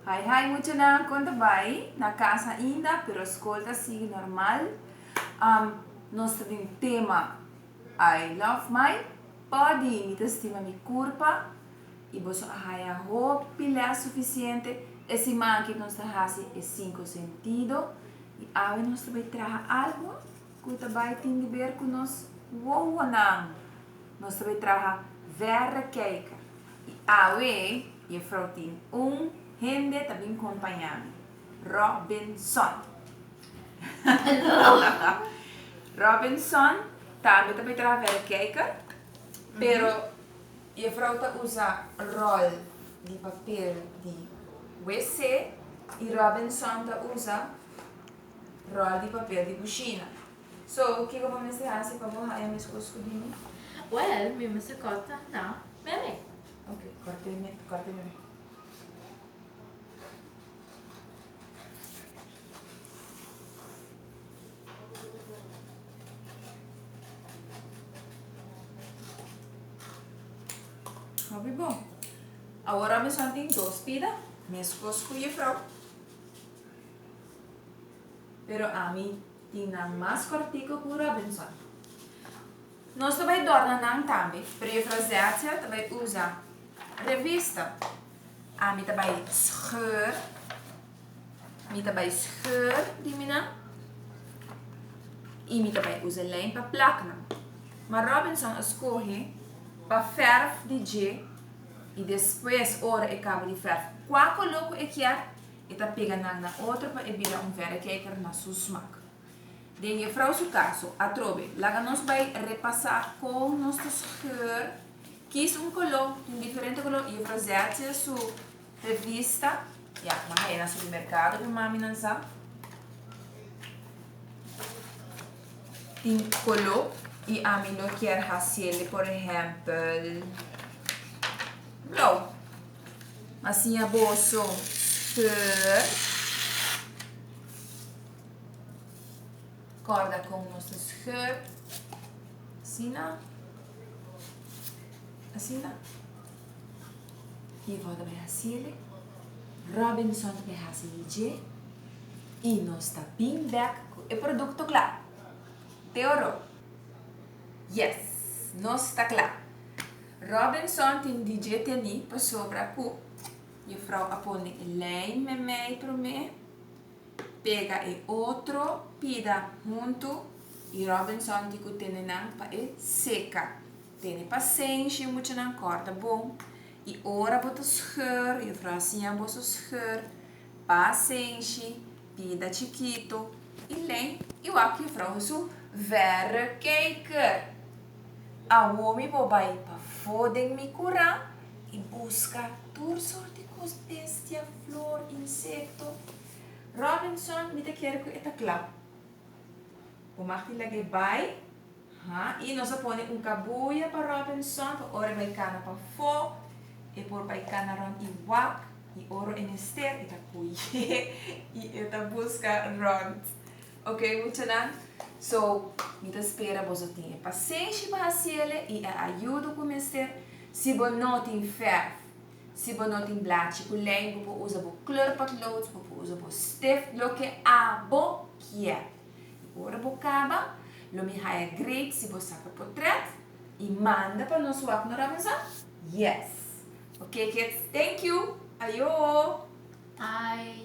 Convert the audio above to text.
Hi hi muchanan kon ta bai? Na kas ainda pero skol ta sigui normal um nos ta den tema I love my body mi ta stima mi kurpa y boso a haya hopi les sufisiente e siman ke nos ta hasi e sinku sentido y awe nos ta bai traha algu Cu ta bay tin di ber cu nos wowonan. Nos ta bay traha verrekijker. Y awe, Jefvrouw tin un hende ta bin compaña mi. Robinson. Robinson tambe ta bay traha verrekijker, pero Jefvrouw ta usa rol di papel di WC y Robinson ta usa. Rol di papel di kushina. So, kiko bo mester hasi pa bo haña meskos ku di mi? Wèl, mi mester kòrta na meme. Oke, kòrta e kòrta e meme. Hopi bon. Awor amisònt tin dos pida, meskos ku Jefrou. Pero ami tin nan mas kòrtiku ku Robinson. Nos ta bai dor na nan tambe, pero Juffrouw Zertia ta bai usa revista. Ami ta bai scheur, mi ta bai scheur di mi nan i mi ta bai usa lijn pa plak nan. Ma Robinson a skohe pa fèrf di dje i despues ora e kaba di fèrf kua koló ku e kier. e ta pega nan na otro pa e bira un verrekijker na su smak. Den Jefvrouw su kaso, atrobe, laga nos bai repasá kon nos ta skeur, Kies un koló, tin diferente koló, Jefvrouw Zertje su revista, ya, nan haña na supermerkado ku mami nan sa, tin koló i ami lo kier hasiel, por ehèmpel, blou. Ma siña boso skeur. Corda con nos ta skeur. Asina. Asina. Ivo ta beha sili. Robinson ta beha sili dje. I nos ta bin bek cu e producto cla. Te oro? Yes. Nos ta cla. Robinson tin di dje teni pasobra ku Jufrou a pone e lijn memei promé, pega e otro pida huntu i Robinson di ku tene nan pa e seka. Tene pasenshi mucha nan kòrda bon i ora bo ta scheur Jufrou a siña boso scheur pasenshi pida chikito i lijn iwal ku Jufrou su verrekijker. Awo mi bo bai pafó den mi kurá i buska tur sorti kos, bestia, flor, insekto. Robinson, mi ta kier ku e ta kla. Bo mag tin lag'é bai, ha, i nos a pone un kabuya pa Robinson pa ora e bai kana pafó, e por bai kana rònt i wak, i ora e mester e ta kuy'é i e ta buska rònt. Ok muchanan so mi ta spera boso tin e pasenshi pa hasiele y e ayudo cu mester si bo no tin ferf si bo no tin blachi cu ley bo por usa bo kleur potlood bo por usa bo stift loke a bo kier y ora bo caba lo mi haya great si bo saca potret y manda pa nos wak no ramusa yes ok kids thank you ayo. Hi.